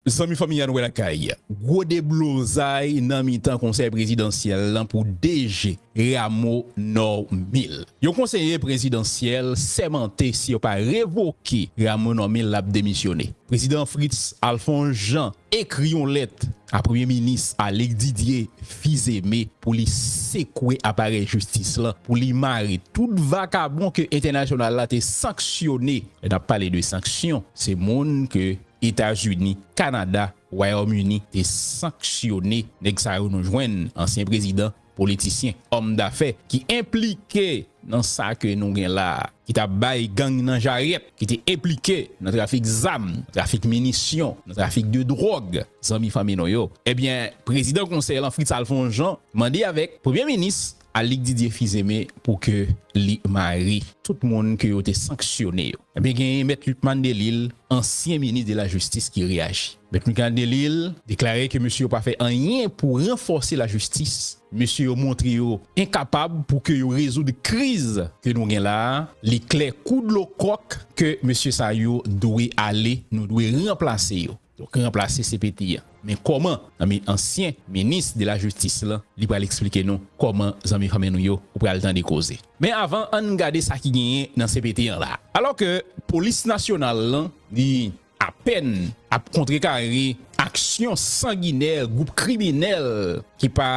Zanmi Fanmi Ann Wè Lakay, Gwo deblozay nan mitan Konsèy Prezidansyèl lan pou DG Rameau Normil. Yon konseye prezidansyèl sèmante si yo pa revoke Rameau Normil l ap demisyone. Prezidan Fritz Alphonse Jean ekri yon lèt A Premye Minis Alix Didier Fils-Aimé pou li sekwe aparèy jistis lan pou li mare tout vakabon ke entènasyonal la te sanksyone. Lè n ap pale de sanksyon, se moun ke Etazini, Kanada, Wayòm Ini te sanksyone. Nèg sa yo nou jwenn ansyen prezidan politisyen, òm dafè ki enplike nan sa ke nou gen la a, ki ta bay gang nan jaryèt, ki te enplike nan trafik zam, nan trafik minisyon, nan trafik de dwòg, zanmi fanmi nou yo. Ebyen, prezidan konsèy lan Fritz Alphonse Jean mande avèk premye minis Alix Didier Fils-Aimé pou ke li mare tout moun ke yo te sanksyone yo. Ebyen genyen mèt Lucmane Delille, ansyen minis de la jistis ki reyaji. Mèt Michael Delille deklare ke mesye yo pa fè anyen pou ranfòse lajistis. Mesye yo montre yo enkapab pou ke yo rezoud kriz ke nou gen la a. Li klè kou dlo kòk ke mesye sa yo dwe ale, nou dwe ranplase yo. Donk ranplase CPT an. Men kòman? Zanmi ansyen minis de lajistis lan, li pral eksplike nou kòman zanmi fanmi nou yo, ou pral tande koze. Men avan, ann gade sa ki genyen nan CPT an la a. Alò ke polis nasyonal lan li apèn ap kontrekare aksyon sanginè gwoup kriminèl ki pa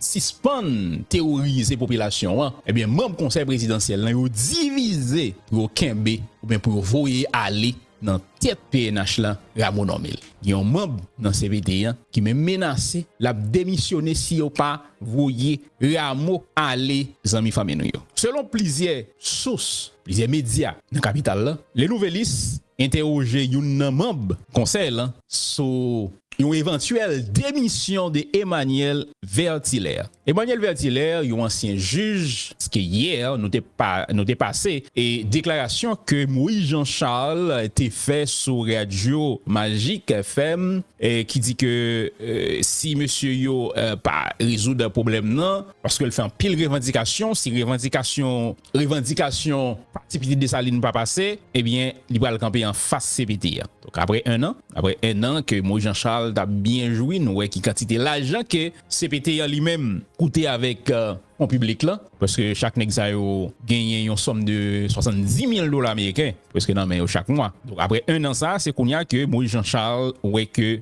sispann teworize popilasyon an, ebyen manb konsèy prezidansyèl lan yo divize pou yo kenbe oubyen pou yo voye ale nan tèt pnh lan Rameau Normil. Gen yon manb nan cpt an ki menm menase lap demisyone si yo pa voye Rameau ale zanmi fanmi nou yo. Selon plizyè sous, plizyè medya nan kapital lan, Le Nouvelliste, Entèwoje youn nan manb konsèy lan sou yon evantyèl demisyon de Emmanuel Vertilaire. Emmanuel Vertilaire, yon ansyen jij, ske yè nou te nou te pase e deklarasyon ke Moïse Jean Charles te fè sou radyo Magic FM ki di ke si mesye yo pa rezoud pwoblèm nan, paske l fè anpil revandikasyon, si revandikasyon revandikasyon pati pitit Desalin pa pase, ebyen li pral kanpe anfas cpt a. Donk aprè 1 an, aprè 1 an ke Moïse Jean Charles t ap byen jwi, nou wè ki kantite lajan ke cpt an li menm koute avèk fon piblik lan, pwèske chak nèg sa yo genyen yon sòm de 70 mil dola ameriken pwèske nan men yo chak mwa. Donk aprè 1 an sa, se kounya ke Moïse Jean Charles wè ke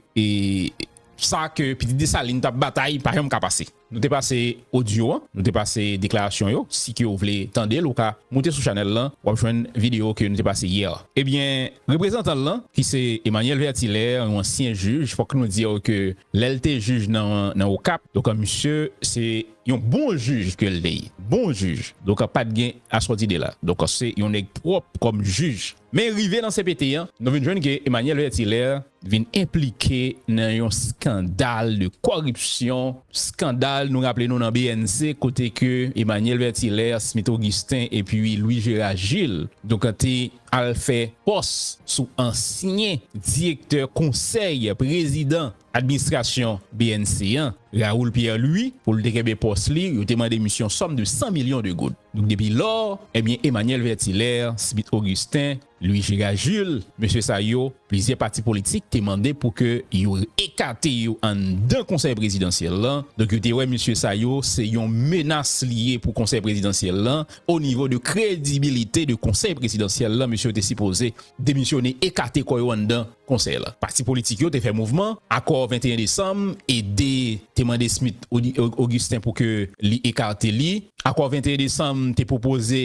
sa ke pitit Desalin t ap batay pa janm ka pase. Nou te pase audio an, nou te pase deklarasyon yo, si ke ou vle tandel ou ka moute sou chanèl lan wap jwenn video ke nou te pase hier. Ebyen reprezantan lan ki se Emmanuel Vertilaire yon ansyen jij fok nou diw ke lèl te jij nan okap donk misye se yon bon jij kel te ye bon jij donk pat gen aswodide la donk se yon nèg pwop kom jij. Men rive nan cpt an, nou vin jwenn ke Emmanuel Vertilaire vin enplike nan yon skandal de kòripsyon, skandal nou raple nou nan bnc kote ke Emmanuel Vertilaire, Smith Augustin epi Louis Gérard Gilles donk te al fè pòs sou ansyen direktè konsèy prezidan administrasyon bnc an, Raoul Pierre Louis pou l te kenbe pòs li, yo te mande misye yon sòm de 100 milyon de goud. Depi lò, ebyen Emmanuel Vertilaire, Smith Augustin, Louis Girard Jules, mesye sa yo, plizyè pati politik te mande pou ke yo ekate yo anndan Konsèy Prezidansyèl lan, donk yo te wè mesye sa yo se yon menas li ye pou Konsèy Prezidansyèl lan, o nivo de kredibilite de Konsèy Prezidansyèl lan, mesye yo te sipoze demisyone, ekate kò yo anndan. Konsèy la. Pati politik yo te fè mouvman, akò 21 desanm, e 2 te mande Smith Augustin pou ke li ekarte li. Akò 21 desanm te pwopoze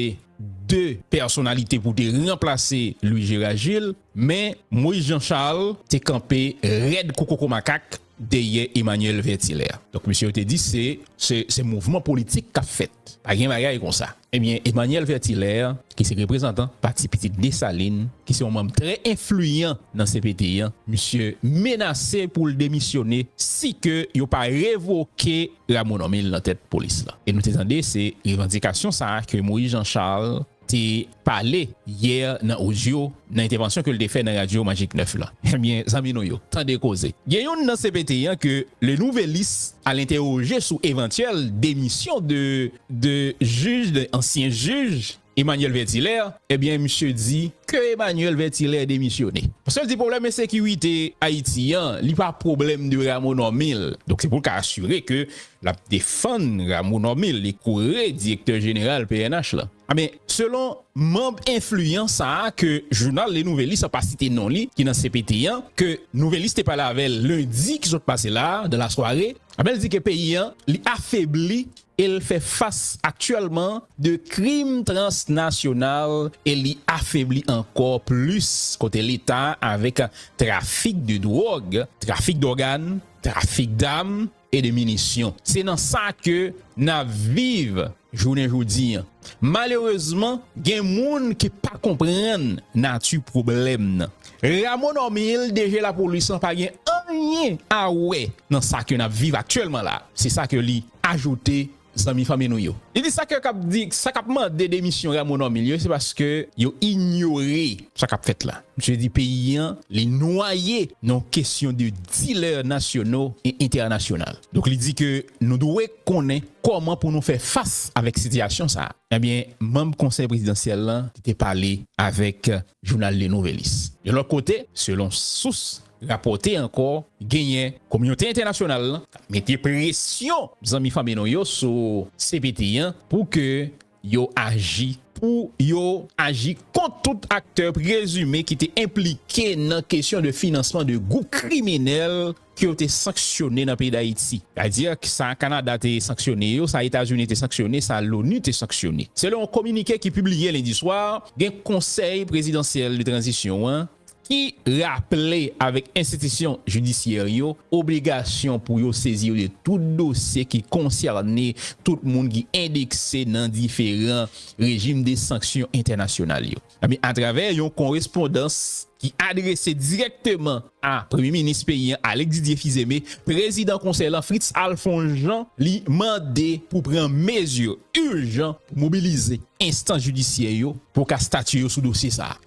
2 pèsonalite pou te ranplase Louis Gérard Gilles, men Moïse Jean Charles te kanpe rèd kou koko makak dèyè Emmanuel Vertilaire. Donk mesye yo te di se se mouvman politik k ap fèt, pa gen bagay konsa. Ebyen Emmanuel Vertilaire ki se reprezantan pati pitit Dessalines ki se yon manm trè enfliyan nan cpt an, misye menase pou l demisyone si ke yo pa revoke Rameau Normil nan tèt polis lan. E nou te tande se revandikasyon sa a ke Moïse Jean Charles te pale yè nan odyo nan entèvansyon ke l te fè nan radyo Magic 9 lan. Ebyen zanmi nou yo, tande koze. Gen youn nan cpt an ke Le Nouvelliste al entèwoje sou evantyèl demisyon de 2 jij, 2 ansyen jij, Emmanuel Vertilaire, ebyen misye di ke Emmanuel Vertilaire demisyone. Paske l di pwoblèm ensekirite Ayiti an, li pa pwoblèm de Rameau Normil. Donk se pou l ka asire ke l ap defann Rameau Normil, li kore direktè jeneral pnh la. Ebyen, selon manb enfliyan sa a ke jounal Le Nouvelliste an pa site non li, ki nan cpt an, ke Nouvelliste te pale avè l lendi ki sot pase la a, dan la sware, Abel di ke peyi an li afebli e l fè fas aktyèlman de krim transnasyonal e li afebli ankò plis kote leta avèk trafik de dwòg, trafik dògàn, trafik dam e de minisyon. Se nan sa ke n ap viv. Jounen jodi, malerezman gen moun ki pa konprann nati pwoblèm nan. Ramon Normil DG lapolis lan pa gen anyen a wè nan sa ke nap viv aktyèlman la, se sa ke li ajoute zanmi fanmi nou yo. Li di sa ke kap di, sa kap mande demisyon Ramon Normil yo se paske yo inyore sa kap fèt la. Misye di peyi an li nwaye nan yon kesyon de dilè nasyono e entènasyonal. Donk li di ke nou dwe. konnen kòman pou nou fè fas avèk sitiyasyon sa a. Ebyen, manb Konsèy Prezidansyèl lan te pale avèk jounal Le Nouvelliste. Yon lòt kote, selon sous rapòte ankò, genyen kominote entènasyonal lan k ap mete presyon zanmi fanmi nou yo sou cpt an pou ke yo aji pou yo aji kont tout aktè prezime ki te enplike nan kesyon de finansman de gwoup kriminèl ke yo te sanksyone nan peyi Dayiti. Sètadi, sa Kanada te sanksyone yo, sa Etazini te sanksyone, sa Loni te sanksyone. Selon yon kominike ki pibliye lendi swa, gen Konsèy Prezidansyèl de Tranzisyon an, ki raple avèk enstitisyon jidisyè yo obligasyon pou yo sezire tout dosye ki konsène tout moun ki endekse nan diferan rejim de sanksyon entènasyonal yo. Atravè yon korespondans ki adrese dirèkteman a Premye Minis peyi an, Alix Didier Fils-Aimé, Prezidan Konsèy lan, Fritz Alphonse Jean, li mande pou pran mezi ijan pou mobilize enstans jidisyè yo pou ka statye yo sou dosye sa a.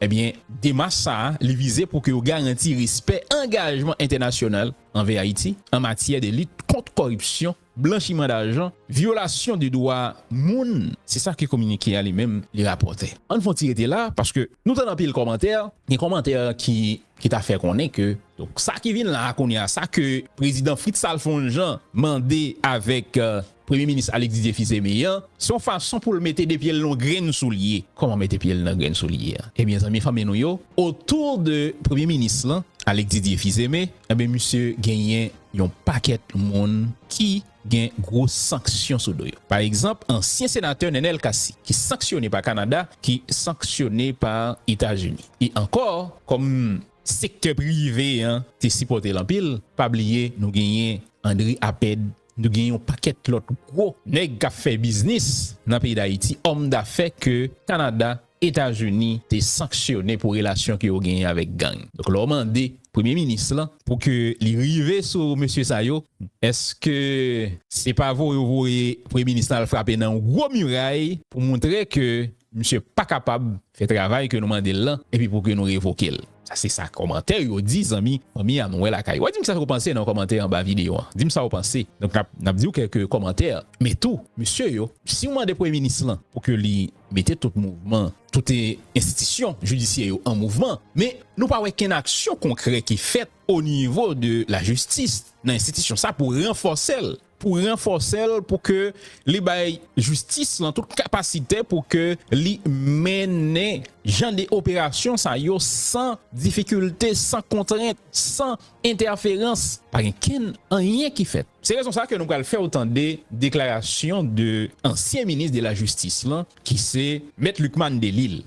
Demach sa a li vize pou ke yo garanti respè angajman entènasyonal anvè Ayiti an matyè de lit kont kòripsyon, blanchiman dajan, vyolasyon de dwa moun, se sa ke kominike a li menm li rapòte. An n fon ti rete la paske nou tann anpil kòmantè, gen kòmantè ki ta fè konnen ke sa ki vin la a kounye a, sa ke Prezidan Fritz Alphonse Jean mande avèk. Premye minis Alix Didier Fils-Aimé an, se yon fason pou l mete 2 pye l nan yon grenn soulye. Kòman mete pye l nan grenn soulye a? Ebyen zanmi fanmi nou yo, otou de premye minis lan, Alix Didier Fils-Aimé, enben misye genyen yon pakèt moun ki gen gwo sanksyon sou do yo. Pa egzanp, ansyen senatè Nenel Cassy, ki sanksyone pa Kanada, ki sanksyone pa Etazini. E ankò, kòm sektè prive an te sipòte l anpil, pa bliye nou genyen André Apède Nou gen yon pakèt lòt gwo nèg kap fè biznis nan peyi Dayiti, òm dafè ke Kanada, Etazini te sanksyone pou relasyon ke yo genyen avèk gang. Donk lè w mande premye minis lan pou ke li rive sou mesye sa yo, eske se pa voye yo voye premye minis lan al frape nan yon gwo miray pou montre ke misye pa kapab fè travay ke nou mande l lan epi pou ke nou revoke l? Sa se sa kòmantè yo di zanmi fanmi a nou wè lakay. Wap dim sa ou panse nan kòmantè anba video an. Dim sa ou panse. Donk nap nap diw kèlke kòmantè men tou mesye yo siw mande premye minis lan pou ke li mete tout mouvman tout enstitisyon jidisyè yo an mouvman men nou pa wè kenn aksyon konkrè ki fèt onivo de lajistis nan enstitisyon sa pou ranfòsel. pou ranfòse l pou ke li bay jistis lan tout kapasite pou ke li mennen jan de operasyon sa yo san difikilte, san kontrent, san entèferans, pa gen kenn anyen ki fèt. Se rezon sa ke nou pral fè w tande deklarasyon de ansyen minis de lajistis lan ki se Mèt Lucmane Delille.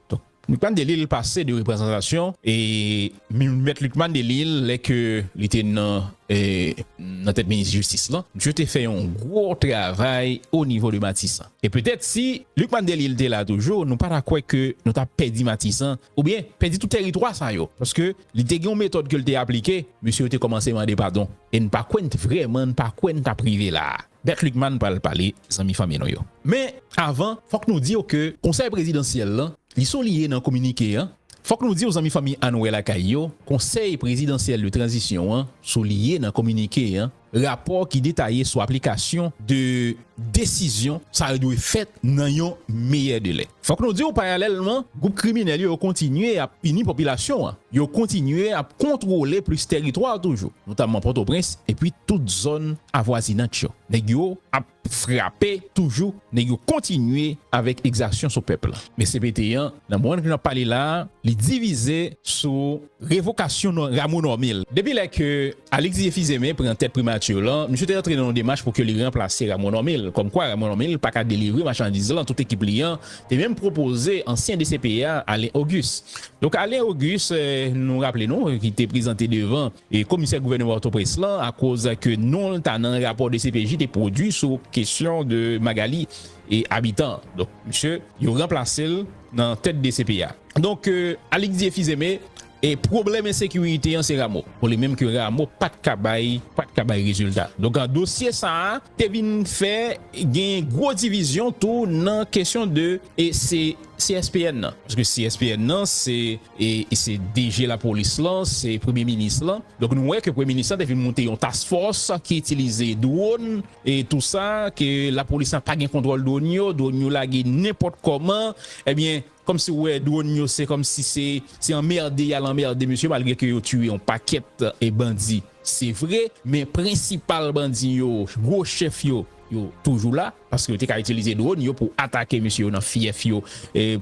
Lucmane Delille pase de reprezantasyon e mèt Lucmane Delille lè ke li te nan nan tèt minis jistis lan misye te fè yon gwo travay o nivo de matisan e petèt si Lucmane Delille te la toujou nou pa ta kwè ke nou ta pèdi matisan oubyen pèdi tout tèritwa sa yo paske li te gen yon metòd ke li te aplike mesye yo te kòmanse mande padon e n pa kwè n t vrèman n pa kwè n t ap rive la a. Bert Lucmane pral pale zanmi fanmi nou yo. Men avan fòk nou diw ke konsèy prezidansyèl lan li souliye nan kominike an fòk nou diw zanmi fanmi Ann wè lakay yo konsèy prezidansyèl de tranzisyon an souliye nan kominike an rapò ki detaye sou aplikasyon de desizyon sa yo dwe fèt nan yon meyè delè. Fòk nou di w payalèlman gwoup kriminèl yo kontinye ap pini popilasyon an, yo kontinye ap kontwole plis teritwa toujou, notamman Pòtoprens epi tout zòn avwazinant yo. Nèg yo ap frape toujou, nèg yo kontinye avèk egzasyon sou pèp la. Men CPT an nan mwen k nan pale la a, li divize sou. Revokasyon non Rameau Normil. Depi lè ke Alix Didier Fils-Aimé pran tèt Primature lan, misye te antre nan yon demach pou ke li ranplase Rameau Normil. Kòm kwa Rameau Normil pa ka delivre machandiz lan, tout ekip li an te menm pwopoze ansyen DCP a, Alain Auguste. Donk Alain Auguste, nou raple nou, ki te prezante devan komisè gouvènman Pòtoprens lan akoz ke non l ta nan rapò dcpj te pwodui sou kesyon de Magalie. e abitan. Donk misye yo ranplase l nan tèt dcp a. Donk Alixdie Fizeme e pwoblèm ensekirite an se Rameau. Bon li menm ke Rameau pat ka bay pat ka bay rezilta. Donk dosye sa a te vin fè genyen gwo divizyon tou nan kesyon de e se CSPN nan. Paske CSPN nan se e se DG lapolis lan, se premye minis lan. Donk nou wè ke premye minis lan te vin moute yon task force ki itilize dwon. E tou sa ke lapolis la pa gen kontwòl dwòn yo, dwòn yo lage nenpòt kòman, ebyen kòm si ou wè dwòn yo se kòm si se anmerde yal anmerde mesye malgre ke yo tiye yon pakèt bandi se vre men prensipal bandi yo, gwo chèf yo, yo toujou la paske yo te ka itilize dwòn yo pou atake mesye yo nan fyèf yo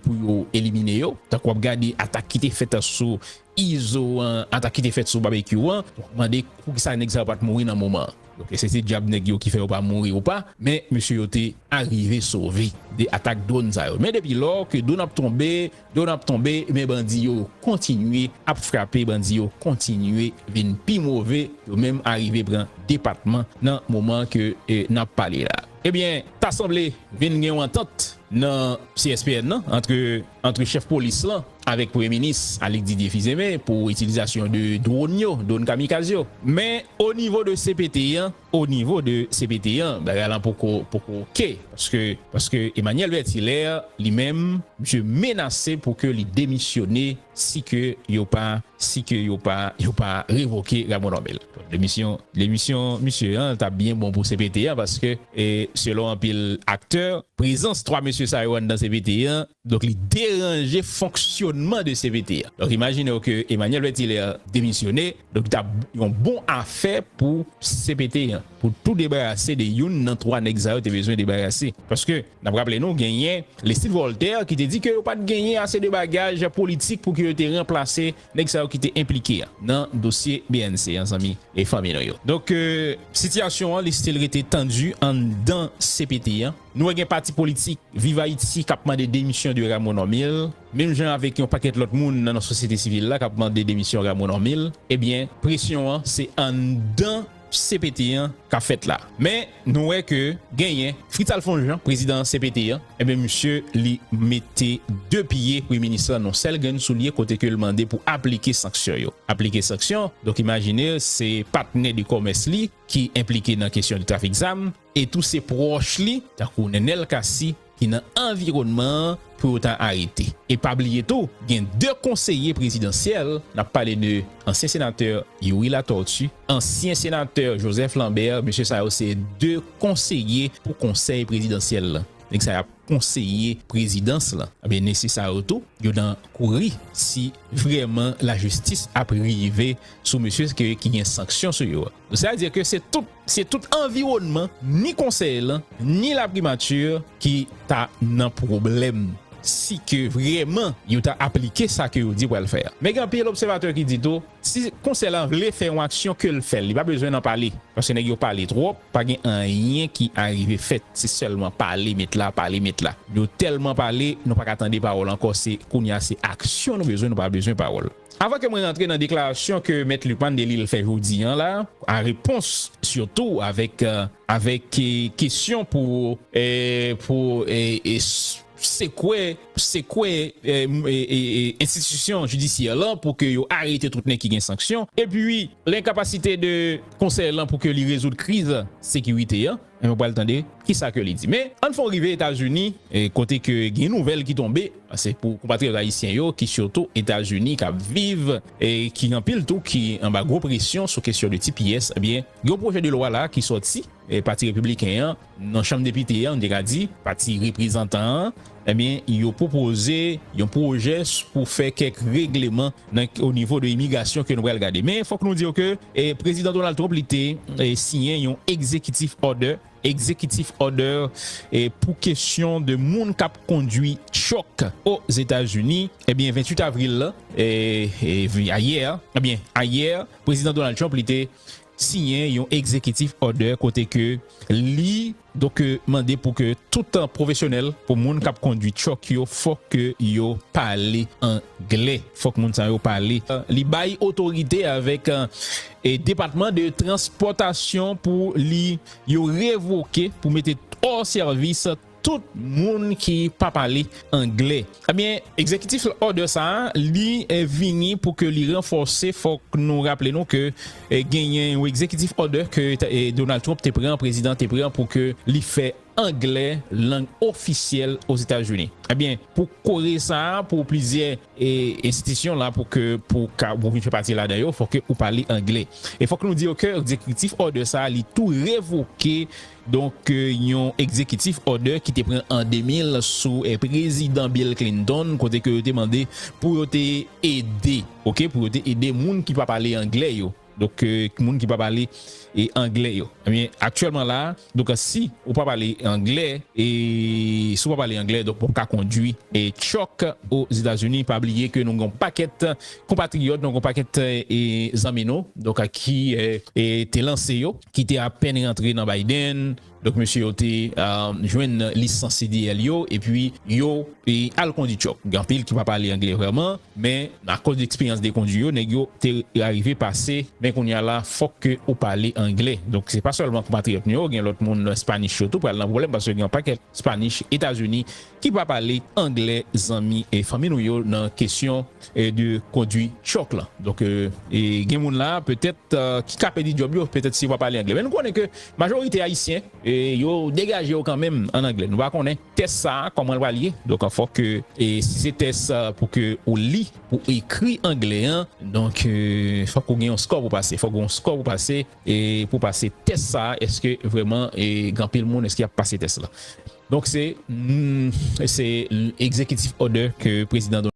pou yo elimine yo tankou wap gade atak ki te fèt sou Izo an atak ki te fèt sou Babekyou an mande poukisa nèg sa yo pat mouri nan moman an ok se ti djab nèg yo ki fè yo pa mouri ou pa men mesye yo te arive sove de atak dwonn sa yo men depi lò ke dwonn ap tonbe dwonn ap tonbe men bandi yo kontinye ap frape bandi yo kontinye vin pi move yo menm arive pran depatman nan moman ke nap pale la ebyen ta sanble vin gen yon antant nan CSPN nan antre antre chèf polis lan avèk premye minis Alix Didier Fils-Aimé pou itilizasyon de dwon yo, dwon kamikaz yo. Men o nivo de cpt an, o nivo de cpt an bagay lan poko poko ok paske paske Emmanuel Bertilaire li menm misye menase pou ke li demisyone si ke yo pa si ke yo pa yo pa revoke Raymond Normil. Demisyon demisyon misye an tap byen bon pou cpt an paske selon anpil aktè prezans 3 mesye sa yo anndan cpt an donk li deranje fonksyonman de cpt an donk imajine w ke Emmanuel Vertilaire demisyone donk li tap yon bon afè pou cpt an pou tou debarase de youn nan 3 nèg sa yo te bezwen debarase paske N ap raple nou genyen Lestid Vòltè ki te di ke yo pa t genyen ase de bagaj politik pou ke yo te ranplase nèg sa yo ki te enplike nan dosye bnc an zanmi e fanmi nou yo. Donk sitiyasyon an li stil rete tandi anndan cpt an. Nou wè gen pati politik Viv Ayiti k ap mande demisyon de Rameau Normil, menm jan avèk yon pakèt lòt moun nan sosyete sivil la k ap mande demisyon Rameau Normil. Ebyen presyon an se anndan cpt an kap fèt la men nou wè ke genyen Fritzal Fonjean prezidan cpt an enben misye li mete 2 pye premye minis lan nan sèl grenn soulye kote ke l mande pou aplike sanksyon yo aplike sanksyon donk imajine se patnè de kòmès li ki enplike nan kesyon de trafik zam e tou se pwòch li tankou Nenel Cassy ki nan anviwònman an pou yo ta arete. E pa bliye tou gen 2 konseye prezidansyèl, n ap pale de ansyen senatè Youri Latortue, ansyen senatè Joseph Lambert, mesye sa yo se 2 konseye pou konsèy prezidansyèl lan, nèg sa y ap konseye prezidans lan, ebyen mesye sa yo tou yo nan kouri si vrèman lajistis ap rive sou mesye ki gen sanksyon sou yo. Sètadi ke se tout Se tout anviwònman, ni konsèy lan, ni laprimati ki ta nan pwoblèm si ke vrèman yo ta aplike sa ke yo di yo pral fè a. Men gen anpil obsèvatè ki di tou, si konsèy lan vle fè yon aksyon ke l fè l, li pa bezwen nan pale. Paske nèg yo pale twòp, pa gen anyen ki arive fèt. Se sèlman pale met la, pale met la. Nou tèlman pale, nou pa ka tande pawòl ankò. Se kounya se aksyon nou bezwen, nou pa bezwen pawòl. Avan ke mwen rantre nan deklarasyon ke Mèt Lucmane Delille fè jodi an la, an repons sitou avèk avèk kesyon pou pou sekwe sekwe enstitisyon jidisyè lan pou ke yo arete tout nèg ki gen sanksyon, epi lenkapasite de Konsèy lan pou ke li rezoud kriz sekirite an. E nou pral tande kisa ke li di. Men, ann fon rive Etazini, kote ke gen yon nouvèl ki tonbe, se pou konpatriyòt ayisyen yo ki sitou Etazini kap viv, e ki anpil tou ki anba gwo presyon sou kesyon de tps, ebyen gen yon pwojè de lwa la ki sòti, pati repibliken an nan chanm depite an, nou te ka di, pati reprezantan an, Ebyen yo pwopoze yon pwojè pou fè kèk regleman nan o nivo de imigrasyon ke nou pral gade. Men fòk nou di yo ke Prezidan Donald Trump li te siyen yon egzekitif òdè, executive order, pou kesyon de moun kap kondwi truck o Zetazini. Ebyen 28 avril la, ayè, ebyen ayè Prezidan Donald Trump li te siyen yon egzekitif òdè kote ke li. Donk yo mande pou ke tout pwofesyonèl, pou moun kap kondwi truck yo fòk ke yo pale anglè, fòk moun sa yo pale. Li bay otorite avèk depatman de transpòtasyon pou li yo revoke, pou mete hors service tout moun ki pa pale anglè. Ebyen, Executive Order sa a, li vini pou ke li ranfòse, fòk nou raple nou ke genyen yon Executive Order ke Donald Trump te pran, prezidan te pran pou ke li fè anglè lang ofisyèl Ozetazini. Ebyen, pou kore sa, pou plizyè enstitisyon la pou ke pou ka pou vin fè pati ladan yo, fòk ke ou pale anglè. E fòk nou di yo ke Executive Order sa a li tou revoke Donk, yon egzekitif òdè ki te pran an 2000 sou Prezidan Bill Clinton kote ke yo te mande pou yo te ede, ok, pou yo te ede moun ki pa pale angle yo, donk, moun ki pa pale angle yo. Ebyen, aktyèlman la a, donk, si ou pa pale angle, e si ou pa pale angle, donk, ou pap ka kondwi truck Ozetazini. Pa bliye ke nou gen yon pakèt. Konpatriyòt nou, yon pakèt zanmi nou donk ki te lanse yo, ki te apèn rantre nan Biden, donk mesye yo te jwenn lisans CDL yo epi yo al kondi tchòk. Gen anpil ki pa pale angle vrèman men akòz eksperyans de kondi yo nèg yo te arive pase men kounye a la fòk ke ou pale angle. Donk se pa sèlman konpatriyòt nou yo gen lòt moun Spanish yo tou pral nan pwoblèm paske gen yon pakèt Spanish Etazini ki pa pale anglè zanmi e fanmi nou yo nan kesyon de kondwi truck lan. Donk gen moun la petèt ki ka pèdi djòb yo petèt si yo pa pale anglè. Men nou konnen ke majorite ayisyen yo degaje yo kanmenm an anglè. Nou pa konnen tès sa a kòman l pral ye. Donk fòk ke si se tès pou ke ou li, pou ou ekri anglè an, donk fòk ou gen yon score pou pase. Fòk ou gen yon score pou pase pou pase tès sa a. Eske vrèman gen anpil moun eske y ap pase tès la. Donk se, se executive order ke Prezidan Donald.